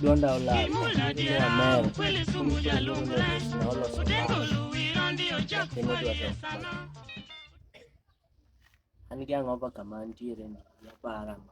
Blonda olal Mia Mel Naoloso An gi ang'o pa kama antiere ni? Yapara ma.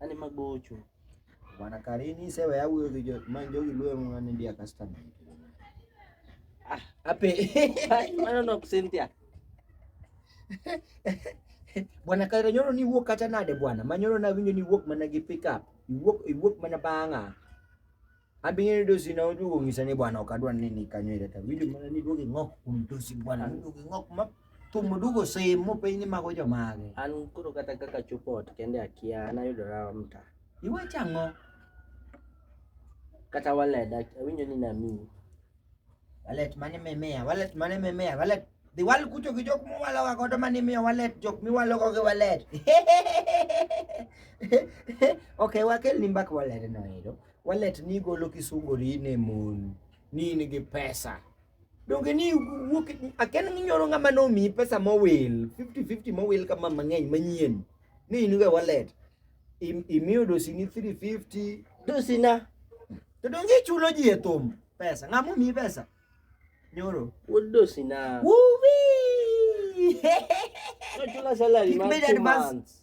ani magocho bwana karini sewa ya huyo kijo manjo kilwe mwana ndiye customer ah ape maana ndo kusentia bwana kairo nyoro ni wuok kata nade bwana manyoro na winjo ni wuok mana gi pick up iwuok iwuok mana bang'a Abingine ndio sina uju ungisane bwana ukadwa nini kanywele ta video mana ni doge ngok kumtusi bwana ni doge ngok map tumudugo sehemu penye mago jomage an koro kata kaka chupot kende akia anayudora mta iwe chango kata wallet awinjo ni nami wallet mane memea wallet mane memea wallet dhi wal kucho gi jok muwaloga godo mane imiyo wallet jok miwalogo gi wallet okay wakelni mbaka wallet noero Wallet ni golo kisungori ne mon ni in gi pesa donge ni wuok aken nyoro ng'ama nomiyi pesa mowil 50-50 mowil kama mang'eny manyien ni in ga wallet imiyo dosini 350 dosina to donge ichulo ji e thum pesa ng'ama omiyi pesa nyoro wuod dosina wuwi Not your salary, He made advance.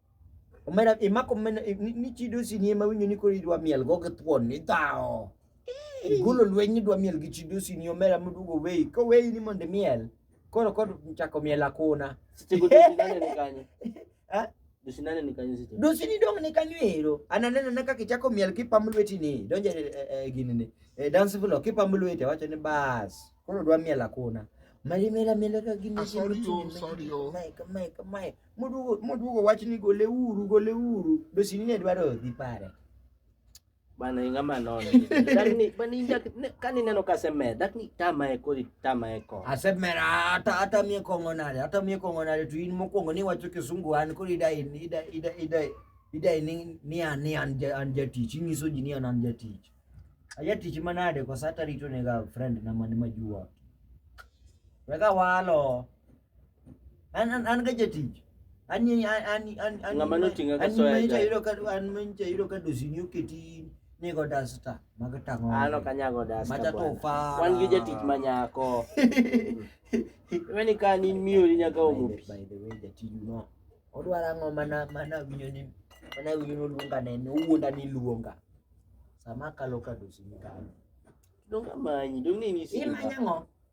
Omera imako omena ni chido si ni ema winjo ni koro idwa miel go gi thuon ni dhao. Igolo lweny ni dwa miel gi chido si ni omera modugo weyi. Ko weyi ni mondo imiel. Koro kod chako miel akona. Seche go dinane ni kanye. Eh? Dosinane ni kanyo seche. Dosini dong ni kanyo ero. Ananeno na kaka ichako miel kipam lweti ni. Donje e, eh, e, eh, gini ni. E, dance floor kipam lweti wacho ni bas. Koro dwa miel akona. Malimela mela ka gini. Ah, sorry, oh, sorry, oh. Mike, Mike, Mike. moduogo moduogo wach ni gole uru gole uru dosini ne dwaro dhi pare bana inga manono lakini bana inga kani neno kaseme lakini tama e kodi tama e ko asemera hata hata mie kongo nare hata mie kongo nare tu in mokongo ni wacho kisungu an kodi dai ida ida ida ida ni ni an ni an an jatich inyiso ji ni an an jatich ajatich manade kwa sata rito ne ga friend na mani majua weka walo an an ga jatich an ni an an an an Ng'ama noting'a ka an soya manager jai. yudo ka an manager yudo ka dosini oketi nego dasta mag tang'o an ok anyago dasta Macha to bwana. fara. wan gi jatich ma nyako iweni ka an in miyo ni nyaka omo pi by the way jatiju no odwaro ang'o mana mana winyo ni mana winyo ni oluonga ne ni owuonda ni luonga sama akalo ka dosini kalo dong amanyi dong ni in isimba imanya ng'o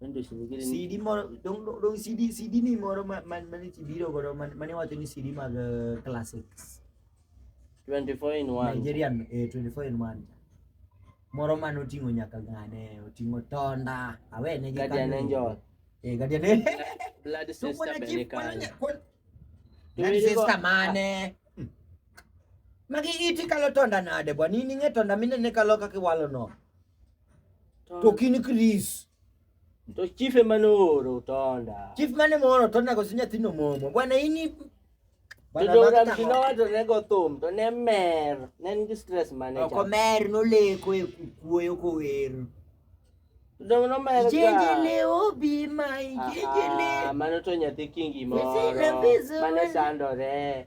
Wende si nigi CD moro dong dong- dong CD CD ni moro ma ma ma ni biro godo ma ma ni wacho ni CD mag eh, classics 24 in 1. Nigerian eh, 24 in 1 moro ma noting'o nyaka ng'ane oting'o tonda awe ne gi Guardian kanyo. Angel. eh guardian angel Blood so sister mwana chief Belikani. mwana kwa Tuwili nani go- sister mane Hmm. magi iti kalo tonda nade bwana in ing'e tonda minene kalo kaka iwalo no to ok in Chris. To chief ema nooro Tonda. Chief mane mooro Tonda koso nyathino momo. Bwana ini To Joram Shinowacho ne go thum to ne mer, ne en gi stress mane cha. Ok mer noleko e kuoyo kower. Dong no mer ga. Jejele obi mai jejele. Ah, mano to nyathi kingi moro. Mane sandore.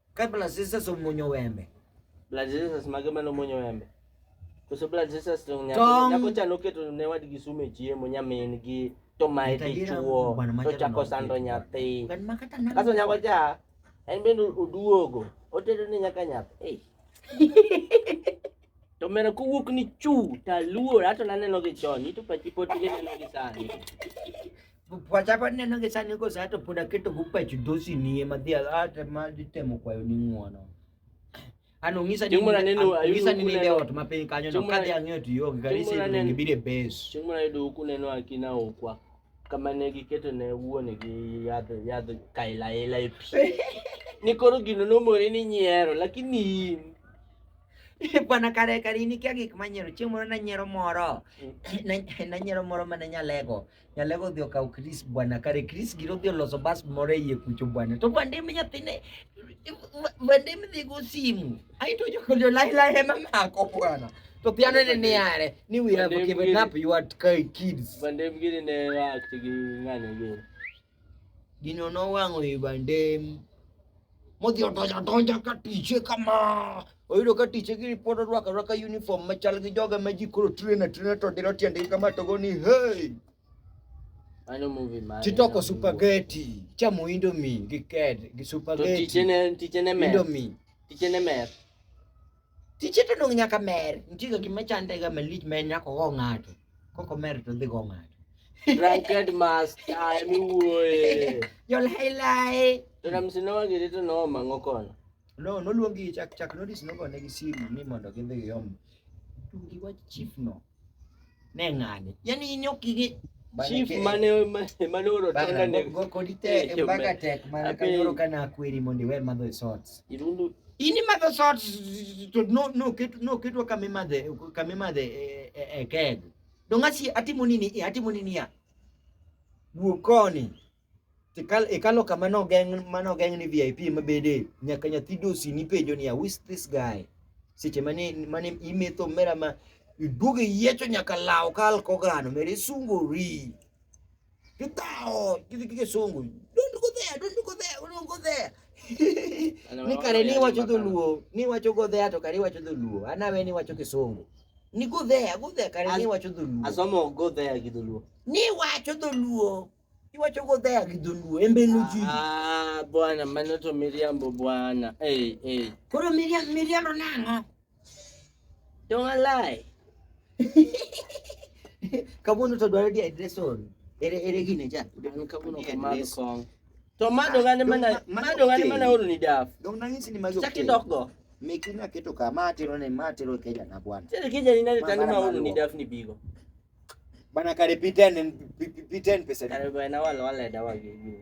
Ka blood sisters omuonyo wembe. Blood sisters mage mane omuonyo wembe? Koso blood sisters to nyako cha noketo ne wadgi sume chiemo nyamin gi to mae dichuo to chako sando nyathi. Kaso nyako cha en bende oduogo otedo ni nyaka nyathi. To mera kowuok ni chu taluor ato naneno gi chon ito pachi pod ineno gi sani. pwacha paneno gi sani kose ato pod aketo go pach dosi nie madhi ate ma ditemo kwayo ni ng'uono ano ng'isa ni mura neno ng'isa ni nende ot ma piny kanyo no kadhi ang'eyo to yo gi gari sir ni bire base chieng' mura yudo ku neno akina okwa kama ne giketo ne wuone gi yadh yadh kaila ila e pi ni koro gino nomore ni nyiero lakini in bwana kare kare ini kia gik manyiero chieng' moro nanyiero moro mm. nanyiero moro mane nyalego nyalego thio ka ukris bwana kare kris giro thio loso bas more ye kucho bwana to bande me nyathine bande me dhigo simu ai to jokolio lai lai hema mako bwana to piano ne ne are ni we have given up your kids bande mgiri ne wa tigi ngane giri Gino nowang'o i bandem modhi odonjo adonja ka tiche kama oyudo ka tiche gi pod orwako arwaka uniform machal gi joga ma ji koro trena trena to dilo tiendgi kama to go ni hey Ano movie man. Chitoko supageti, chamo indomie gi ked gi supageti. To tichene tichene mer. Indomie. Tichene mer. Tije to dong nyaka mer. Nitie ga gima chande ga malich ma en nyaka ogo ng'ato. Koko mer to dhi go ng'ato. Drunkard master emi wuoye. Jol hailai. To Ramsi nowagiri to nomang'o kono. No, noluongi chak chak notice nogone gi simu ni mondo gidhi giom. Tungi wach chief no. Ne ng'ani. Yaani in ok ing'e Chief mane mane oro tenda ne go kodi te eh, mpaka tek mana ka yoro kana akweri mondo iwe madho shots. Irundu ini madho shots to no no ketu no ketu kama madhe kama madhe e eh, eh, keg. Dongasi atimo nini atimo nini ya. Wuokoni. ikalo kama nogeng' manogeng' ni VIP mabede nyaka nyathi dosi nipenjo niya who is this guy seche mane mane imetho mera ma iduogo iyiecho nyaka law ka alkogano mera isungori tithawo gidhi gi kisungu don't go there don't go there don't go there ni kare ni wacho dholuo ni wacho go there to kare iwacho dholuo anawe ni wacho kisungu ni go there go there kare ni wacho dholuo asomo go there gi dholuo ni wacho dholuo Iwacho go dhaya gi dholuo embe nuji. Ah, bwana mano to miriambo bwana. Hey, hey. Koro miriambo miriambo nang'o? Don't lie. Kabuno to dwaro di address on. Ere ere gine cha. An kabuno ko mar kong. To mado gane mana mado gane mana oro ni daf. Dong nang'isi ni mago. Chaki dok go. Mekina keto kama atero ne matero keja na bwana. Sasa keja ni nani tani ma oro ni daf ni bigo. Bana kare piten en piten pesa di. Kare bana wal wale dawa gigi.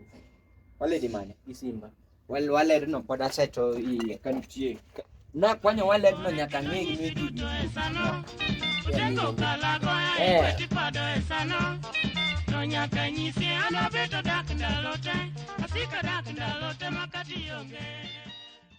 Wale di mane? Isimba. Wal wale no pod aseto i kan tie. Na kwanyo wale no nyaka ngegi ngegi. Tengo kalago eh tipado esano. To nyaka nyisi ana beto dak ndalote. Asika dak ndalote makati yonge.